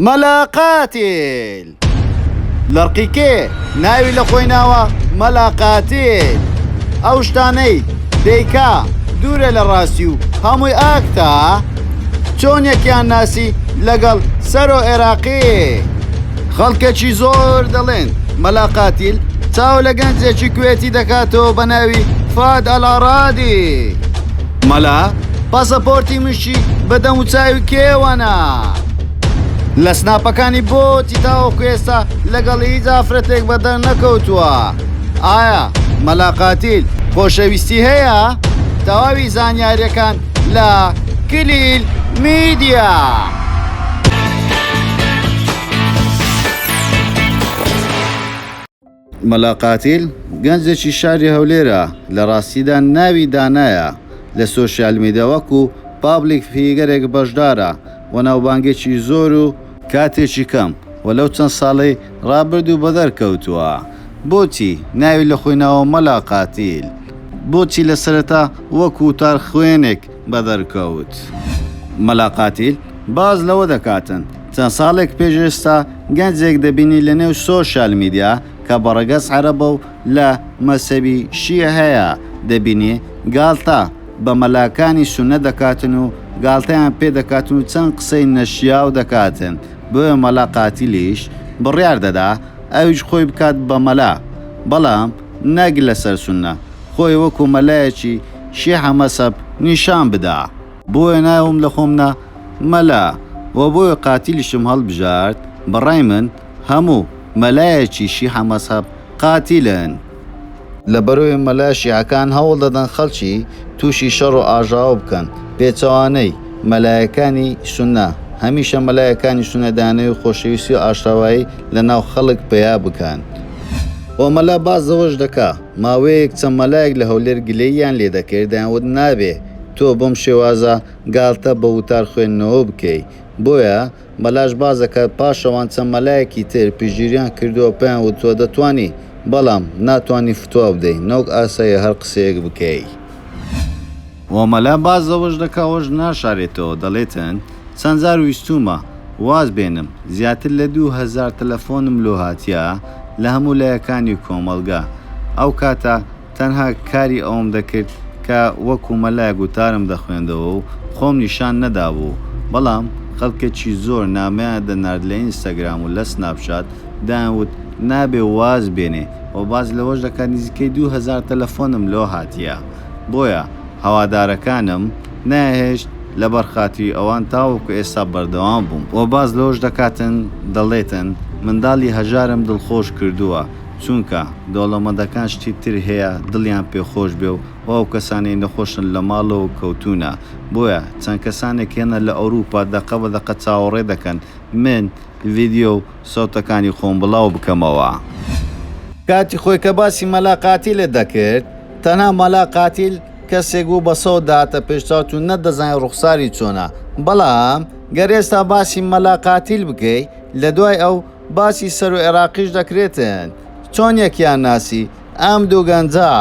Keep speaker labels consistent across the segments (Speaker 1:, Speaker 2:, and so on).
Speaker 1: مەلا قاتیل لەڕقی کێ ناوی لە خۆی ناوە مەلا قاتیل ئەو شتانەی دەیکا دوورە لە ڕاستی و هەمووی ئاکتا چۆن یەکیان ناسی لەگەڵ سەرۆ عێراقی خەڵکەکی زۆر دەڵێن مەلا قاتیل چاو لە گەنجێکی کوێتی دەکاتەوە بە ناوی فاد ئەلاڕادی مەلا پاسەپۆرتی مش بەهەشتی بە دەموچاوی کێوەنا لە سناپەکانی بۆتی تاوەکو ئێستا لەگەڵ هیچ ئافرەتێک بەدەر نەکەوتووە ئایا مەلاقاتیل خۆشەویستی هەیە تەواوی زانیاریەکان لە کلیل میدیا. مەلا قاتیل، گەنجێکی شاری هەولێرە، لە ڕاستیدا ناوی دانایە، لە سۆشیال میدیا وەکو پابلیک فیگەرێک بەشدارە و ناوبانگێکی زۆر و، کاتێکی کەم و لەو چەند ساڵەی ڕابردوو بەدەر کەوتووە، بۆچی ناوی لە خۆی ناوە مەلا قاتیل؟ بۆچی لە سەرەتا وەک وتارخوێنێک بەدەرکەوت. مەلا قاتیل باس لەوە دەکاتن چەند ساڵێک پێش ئێستا گەنجێک دەبینی لەنێو سۆشیال میدیا کە بەڕەگەز عەرەبە و لە مەزهەبی شیعەیە دەبینی گاڵتە بە مەلاکانی سوننە دەکاتن و گاڵتەیان پێ دەکاتن و چەند قسەی نەشیاو دەکاتن بۆیە مەلا قاتیلیش بڕیار دەدا ئەویش خۆی بکات بە مەلا بەڵام نەک لەسەر سوننە خۆی وەکو مەلایەکی شیعە مەسەب نیشان بدا. بۆیە ناوم لە خۆم نا مەلا وە بۆیە قاتیلشم هەڵبژارد بەڕای من هەموو مەلایەکی شیعە مەسەب قاتیلن. لەبەرئەوەی مەلا شیعەکان هەوڵ دەدەن خەڵکی توشی شەڕ و ئاژاوە بکەن پێچەوانەی مەلایەکانی سونە هەمیشە مەلایەکانی سونە دەیانەوێت خۆشەویستی و ئاشتەوایی لەناو خەڵک پەیا بکەن وە مەلا باس لەوەش دەکا ماوەیەک چەند مەلایەک لە هەولێر گلەییان لێ دەکرد دەیانوت نابێ تۆ بەم شێوازە گاڵتە بە وتار خوێندنەوە بکەی بۆیە مەلاش باز دەکات پاشەوان چەند مەلایەکی تر پشتگیریان کردوە پێیان وتوە دەتوانی بەڵام ناتوانی فتوا بدەی نەوەک ئاساییە هەر قسەیەک بکەی. و مەلا باس لەوەش دەکا ئەوەش ناشارێتەوە دەڵێتن چەند جار ویستوومە واز بێنم زیاتر لە دوو هەزار تەلەفۆنم لۆ هاتیە لە هەموو لایەکانی کۆمەڵگە ئەو کاتە تەنها کاری ئەوەم دەکرد کە وەکو مەلایەک وتارم دەخوێندەوە و خۆم نیشان نەدابوو بەڵام خەڵکەکی زۆر نامەیان دەنارد لە ئینستاگرام و لە سناپ چات دایان وت نابێ واز بێنێ و باس لەوەش دەکا نزیکەی دوو هەزار تەلەفۆنم لۆ هاتیە بۆیە هەوادارەکانم نەیهێشت لەبەر خاتری ئەوان تاوەکو ئێستا بەردەوام بووم و باس لەوەش دەکاتن دەڵێتن منداڵی هەژارم دڵخۆش کردووە چونکە دەوڵەمەندەکان شتی تر هەیە دڵیان پێ خۆش بێ و ئەو کەسانەی نەخۆشن لە ماڵەوە کەوتوونە بۆیە چەند کەسانێک هێنە لە ئەوروپا دەقە بە دەقە چاوەڕێ دەکەن من ڤیدیۆ و سەوتەکانی خۆم بڵاو بکەمەوە. کاتی خۆی کە باسی مەلا قاتیلت دەکرد تەنها مەلا قاتیل کەسێک بوو بە سەو دەهاتە پێش چاوت و نەتدەزانی ڕوخساری چۆنە، بەڵام گەر ئێستا باسی مەلا قاتیل بکەی لە دوای ئەو باسی سەرۆ ئێراقیش دەکرێتن چۆن یەکیان ناسی ئەم دوو گەنجە.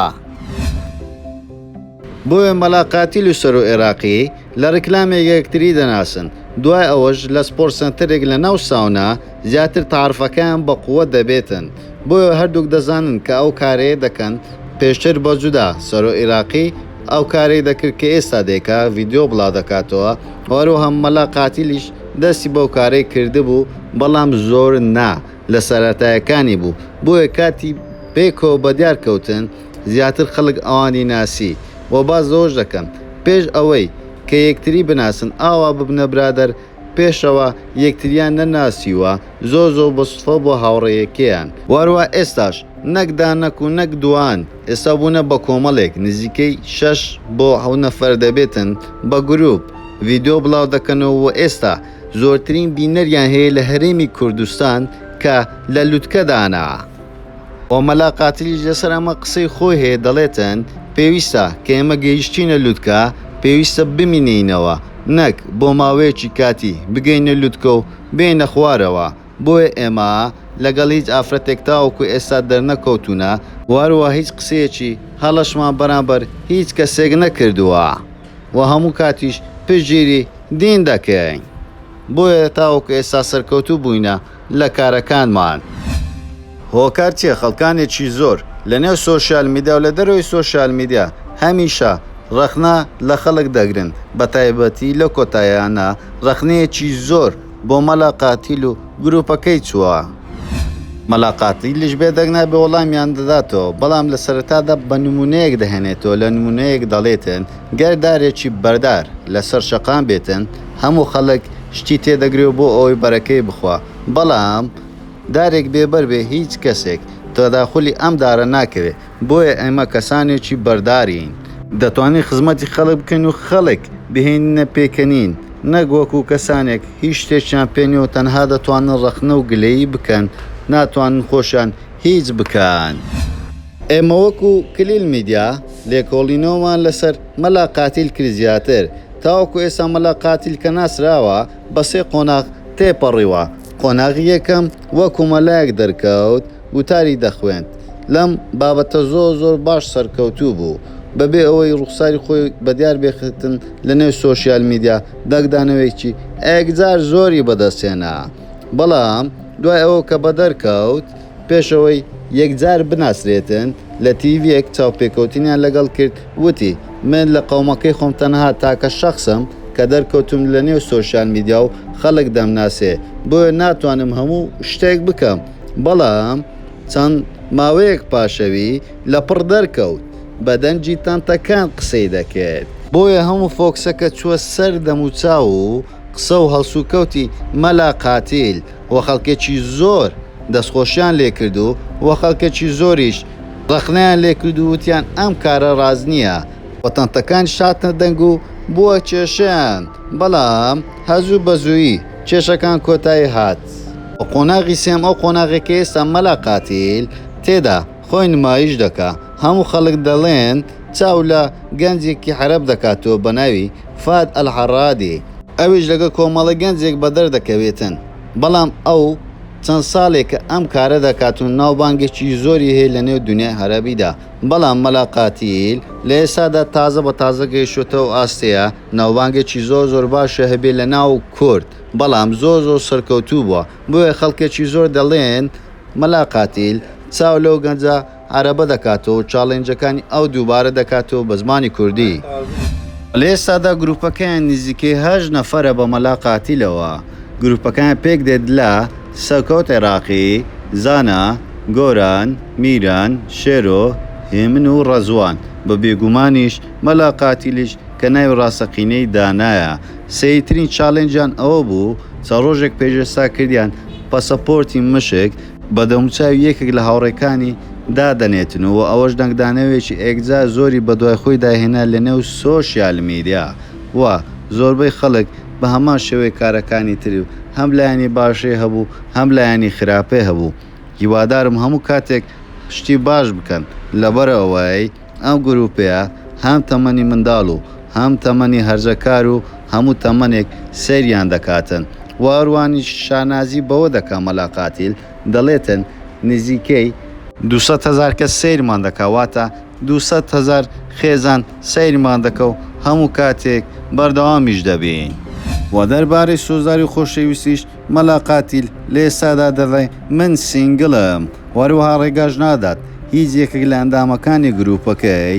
Speaker 1: بۆیە مەلا قاتیل و سەرۆ ئێراقی لە ڕیکلامێک یەکتری دەناسن دوای ئەوەش لە سپۆرت سەنتەرێک لە ناو ساونا، زیاتر تەعرفەکەیان بە قووەت دەبێتن، بۆیە هەردووک دەزانن کە ئەو کارەیە دەکەن، پێشتر بە جودا سەرۆ ئیراقی ئەو کارەی دەکرد کە ئێستا دەیکا ڤیدیۆ بڵادەکاتەوە و هەروەها مەلا قاتیلیش دەستی بەو کارەی کردبوو بەڵام زۆر نا لە سەرەتایەکانی بوو بۆیە کاتی پێکەوە بەدیار کەوتن زیاتر خەڵک ئەوانی ناسی و باس لەوەش دەکەن پێش ئەوەی کە یەکتری بناسن ئاوا ببنە برادەر پێشەوا یەکتریان نەناسیوە زۆر زۆر بە سوتفە بۆ هاوڕێیەکەیان. واروا ئێستاش نەک دانەک و نەک دوان ئێستا بونە بە کۆمەڵێک نزیکەی شەش بۆ حەوت نەفەر دەبێتن بە گروپ ڤیدۆ بڵاو دەکەنەوە وە ئێستا زۆرترین بینەریان هەیە لە هەرێمی کوردستان کە لە لوتکە دانە و مەلا قاتلیش لەسەر ئەمە قسەی خۆی هەیە دەڵێتن پێویستە کە ئێمە گەیشتینە لوتکە پێویستە بمینێینەوە نەک بۆ ماوەیەکی کاتی بگەینە لوتکە و بێینە خوارەوە بۆیە ئێمە لەگەڵ هیچ ئافرەتێک تاوەکو ئێستا دەرنەکەوتوونە و هەروەها هیچ قسەیەکی هەڵەشمان بەرامبەر هیچ کەسێک نەکردووە و هەموو کاتیش پشتگیری دین دەکەین بۆیە تاوەکو ئێستا سەرکەوتوو بووینە. لە کارەکانمان. هۆکار چیە خەڵکانێکی زۆر لە نێو سۆشیال میدیا و لە دەرەوەی سۆشیال میدیا هەمیشە ڕەخنە لە خەڵک دەگرن بە تایبەتی لەو کۆتاییانە ڕەخنەیەکی زۆر بۆ مەلا قاتیل و گروپەکەی چووە. مەلا قاتیلیش بێدەنگ نابێ وەڵامیان دەداتەوە بەڵام لە سەرەتادا بە نمونەیەک دەهێنێتەوە لە نمونەیەک دەڵێتن گەر دارێکی بەردار لەسەر شەقام بێتن هەموو خەڵک شتی تێدەگرێ و بۆ ئەوەی بەرەکەی بخوا، بەڵام دارێک بێ بەر بێ هیچ کەسێک تەداخولی ئەم دارە ناکەوێ، بۆیە ئێمە کەسانێکی بەردارین، دەتوانین خزمەتی خەڵک بکەین و خەڵک بهێنینە پێکەنین، نەک وەکوو کەسانێک هیچ شتێکیان پێ نیە و تەنها دەتوانن ڕەخنە و گلەیی بکەن، ناتوانن خۆشیان هیچ بکەن. ئێمە وەکو کلیل میدیا لێکۆڵینەوەمان لەسەر مەلا قاتیل کرد زیاتر، تاوەکو ئێستا مەلا قاتیل کە ناسراوە بە سێ قۆناغ تێپەڕیوە، قۆناغی یەکەم وەکو مەلایەک دەرکەوت وتاری دەخوێند لەم بابەتە زۆر زۆر باش سەرکەوتوو بوو بەبێ ئەوەی ڕوخساری خۆی بەدیار بێختن لەنێو سۆشیال میدیا داکدانەوەیەکی ئەێکجار زۆری بەدەستهێنا بەڵام دوای ئەوە کە بەدەرکەوت پێش ئەوەی یەکجار بناسرێتن، لە تیڤییەک چاوپێکەوتنیان لەگەڵ کرد، وتی، من لە قەومەکەی خۆم تەنها تاکە شەخسم کە دەرکەوتووم لەنێو سۆشیال میدیا و خەڵک دەمناسێ، بۆیە ناتوانم هەموو شتێک بکەم، بەڵام چەند ماوەیەک پاشەوی لەپڕ دەرکەوت، بە دەنگی تەنتەکان قسەی دەکرد. بۆیە هەموو فۆکسەکە چووە سەر دەموچاو و قسە و هەڵسوکەوتی مەلا قاتیل و خەڵکێکی زۆر دەستخۆشیان لێ کرد و و خەڵکێکی زۆریش ڕەخنەیان لێ کرد و وتیان ئەم کارە ڕاست نییە و تەنتەکانیش هاتنە دەنگ و بووە کێشەیان، بەڵام هەزوو بەزوویی کێشەکان کۆتایی هات و قۆناغی سێم ئەو قۆناغەی کە ئێستا مەلا قاتیل تێدا خۆی نمایش دەکا هەموو خەڵک دەڵێن، چاو لە گەنجێکی حەرەب دەکاتەوە بە ناوی، فاد ئەلحەڕادی، ئەویش لەگەڵ کۆمەڵە گەنجێک بە دەر دەکەوێتن بەڵام ئەو چەند ساڵێکە ئەم کارە دەکات و ناوبانگێکی زۆری هەیە لە نێو دونیای حەرەبیدا بەڵام مەلا قاتیل لە ئێستادا تازە بە تازە گەیشتۆتە ئەو ئاستەیە ناوبانگێکی زۆر زۆر باشە هەبێ لە ناو کورد بەڵام زۆر زۆر سەرکەوتوو بووە بۆیە خەڵکێکی زۆر دەڵێن مەلا قاتیل چاو لەو گەنجە عەرەبە دەکات و چاڵێنجەکانی ئەو دووبارە دەکات و بە زمانی کوردی. لە ئێستادا گروپەکەیان نزیکەی هەشت نەفەرە بە مەلا قاتیلەوە گروپەکەیان پێک دێت لە، سەرکەوت عێراقی، زانا، گۆران، میران، شێرۆ، هێمن و ڕەزوان، بە بێگومانیش مەلا قاتیلیش کە ناوی ڕاستەقینەی دانایە سەیرترین چاڵێنجیان ئەوە بوو چەند ڕۆژێک پێش ئێستا کردیان پەسەپۆرتی مشک، بە دەموچاوی یەکێک لە هاوڕێکانی دادەنێتن و ئەوەش دەنگدانەوێکی ئێکجار زۆری بەدوای خۆیدا هێنا لەنێو سۆشیال میدیا و زۆربەی خەڵک بە هەمان شێوەی کارەکانی تر هەم لایەنی باشی هەبوو هەم لایەنی خراپی هەبوو هیوادارم هەموو کاتێک شتی باش بکەن لەبەرئەوەی ئەم گروپەیە هەم تەمەنی منداڵ و هەم تەمەنی هەرزەکار و هەموو تەمەنێک سەیریان دەکاتن و ئەروانیش شانازی بەوە دەکا مەلا قاتیل دەڵێتن نزیکەی دوو سەد هەزار کەس سەیرمان دەکا واتە دوو سەد هەزار خێزان سەیرمان دەکا و هەموو کاتێک بەردەوامیش دەبین. وە دەربارەی سۆزداری خۆشەویستیش مەلا قاتیل لە ئێستادا دەڵێ من سینگڵم و هەروەها ڕێگاش نادات هیچ یەکێک لە ئەندامەکانی گرووپەکەی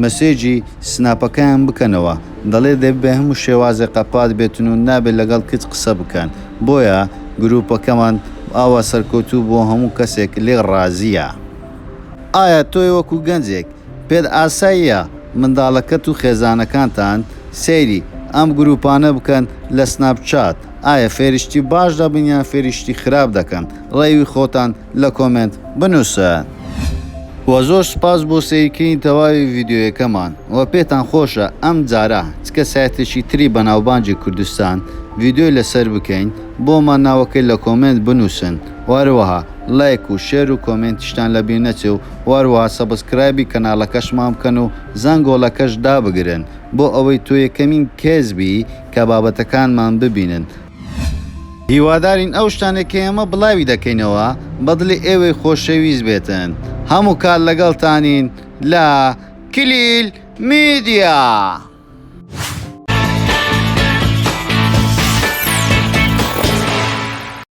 Speaker 1: مەسێجی سناپەکەیان بکەنەوە، دەڵێ دەبێ بە هەموو شێوازێک قەپات بێتن و نابێ لەگەڵ کچ قسە بکەن، بۆیە گرووپەکەمان ئاوا سەرکەوتوو بووە و هەموو کەسێک لێ ڕازییە. ئایا تۆی وەکوو گەنجێک پێت ئاساییە منداڵەکەت و خێزانەکانتان سەیری ئەم گروپانە بکەن لە سناپ چات، ئایا فێری شتی باش دەبن یان فێری شتی خراپ دەکەن؟ ڕەیوی خۆتان لە کۆمێنت بنوسن. وە زۆر سوپاس بۆ سەیرکردنی تەواوی ڤیدیۆیەکەمان وە پێتان خۆشە ئەم جارە چ کە سایتێکی تری بەناوبانگی کوردستان ڤیدیۆی لەسەر بکەین بۆمان ناوەکەی لە کۆمێنت بنوسن وە هەروەها ڵایک و شێر و کۆمێنتیشتان لە بیر نەچێ و وهروها سەبسکرایبی کەنالەکەشمان بکەن و زەنگۆڵەکەش دابگرن بۆ ئەوەی تۆ یەکەمین کەس بی کە بابەتەکانمان ببینن. هیوادارین ئەو شتانەی کە ئێمە بڵاوی دەکەینەوە بە دڵی ئێوەی خۆشەویست بێتن. هەموو کات لەگەڵتانین لە کلیل میدیا.